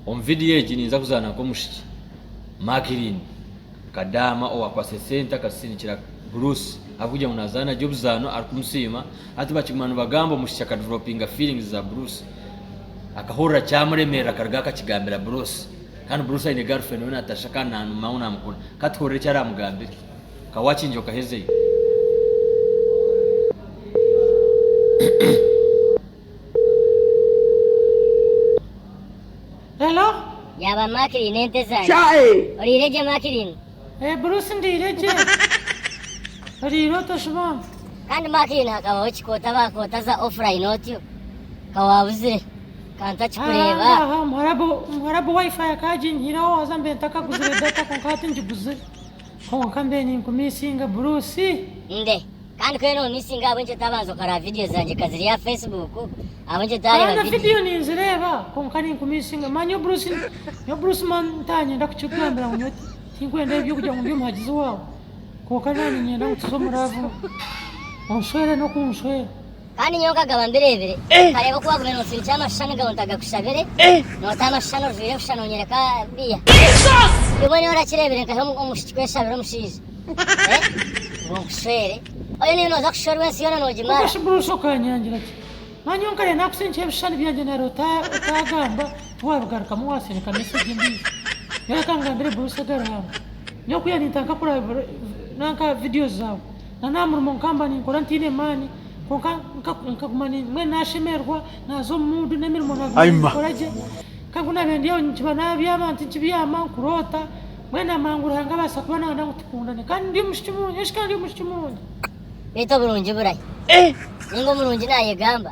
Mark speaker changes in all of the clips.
Speaker 1: Omu vidiyo egi ninza kuzaana nk'omushiki Makirin Kadaama owakwatsire sente akazisindikira Bruce ahabw'okugira ngu nazaana gye obuzaano arikumusiima. Hati bakiguma nibagamba omushiki akadevelopinga feelings za Bruce. Akahurira kyamuremerera akaruga akakigambira Bruce. Kandi Bruce aine girlfriend we Natasha kandi namumamu namukunda. Ka tuhurire eki aramugambire. Ka wakingi okahezeyo.
Speaker 2: Yaaba Makirini
Speaker 3: ente zangye. Oriire gye
Speaker 2: Makirini.
Speaker 3: Eeh Bruce
Speaker 2: ndiire gye. Oriire ota Shibambu. Kandi Makirini
Speaker 3: hakabaho ki koota bakoota za offline otyo? Ka waabuzire. Ka ntakikureeba. Aha aha omuharabu omuharabu
Speaker 2: wifi akaginyihireho haza mbe ntakaguzire data kwonka hati ngiguzire. Kwonka mbe ninkumisinga Bruce. Nde.
Speaker 3: Kandi ku eri omu missing ahabw'enki otaabanza okaraba vidiyo zangye ka ziri aha Facebook ahabw'enki otaareeba Haza vidiyo? vidiyo ninzireeba
Speaker 2: kwonka ninkumissinga mani nyowe Bruce nyowe Bruce man ntanyenda kukikugambira ngu nyowe tinkwenda ebi by'okugira ngu ndi omuhagizi waawe kwonka naanye niinyenda ngu tuze omu love onshwere n'okunshwera. Kandi nyowe nkagaba
Speaker 3: mbireebire, nkareeba oku waagumire noosindikira amashushani gabo ntagakushabire, nootaho amashushani ojwaire busha noonyereka biya. Kimwe nyowe orakireebire nkahe omushiki kweshabira omushaija. Ngu nkushwere. Oyo niiwe nooza kushwerwa ensi yoona noogimara. Omukashi bwosha okanyangira
Speaker 2: ki? Manya nyowe nkareeba naakusindikira ebishushani byangye nari otaagamba tiwaabigarukamu waasindika mesegi endiijo. Nyowe reka nkugambire Bruce Garanga. Nyowe ku yaaninta nkakuraba nanka vidiyo zaawe. na n'aha murimo nkaba ninkora ntaine maani kwonka nkaguma mbwenu nashemererwa naza omu muudu n'emirimo naguma ninkora gye kandi ku nabiire ndyaho nikiba nabyama nti nkibyama nkuroota mbwenu amangu Ruhanga abaasa kuba nayenda ngu tukundane kandi ndi omwishiki murungi eshikaandi omwishiki murungi. Beitu oburungi
Speaker 3: burahi? Ninga omurungi nayegamba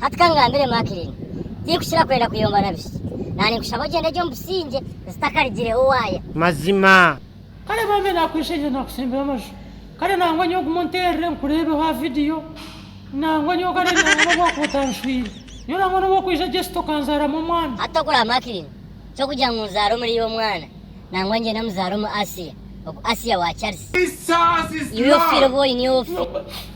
Speaker 3: Hati kangambire Makirini, tinkukira kwenda kuyomba na bishiki. Naninkushaba ogyende gye omu bisingye zitakarigireho waaya. Mazima.
Speaker 4: Kare bambe
Speaker 2: nakwesherire nakutsimbira amaju kare nangwa nyowe guma onterere nkurebeho aha video nangwa nyowe kare nangwa nobwakuba otanshwire nyowe nangwa nobu okwija just okanzaramu omwana. Hati tokureeba Makirini
Speaker 3: kyokugira ngu nzaare omuri iwe omwana nangwa ngyende muzaare omu Asiya ogu Asiya wa Charisi iwe ofiire obu oine ofi.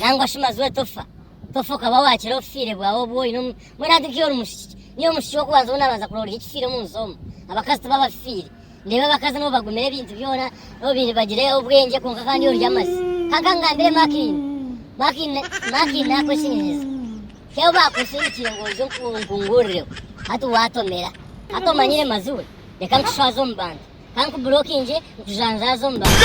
Speaker 2: Nangwa shi mazooba
Speaker 3: tofa, tofa okaba wakira obufiire bwawe obu oine omu, mbwenu hati nk'iwe ori mushiki, niiwe omushiki w'okubanza ou naabanza kurora oriho ekifiire omu nsi omu. Abakazi tibo abafiire. Nindeeba abakazi nabo bagumira ebintu byona, nabo baine, bagira obwengye kwonka kandi orya amazi. Ka kankugambire Makiina, Makiina, Makiina naakweshemereza. Ti abo baakwesindikire ngu oije onku, onkunguurireho. Hati waatomera. Hati omanyire mazooba, reka nkushwaze omu bantu. Ka nkuburokingye nkujanjaaze omu bantu.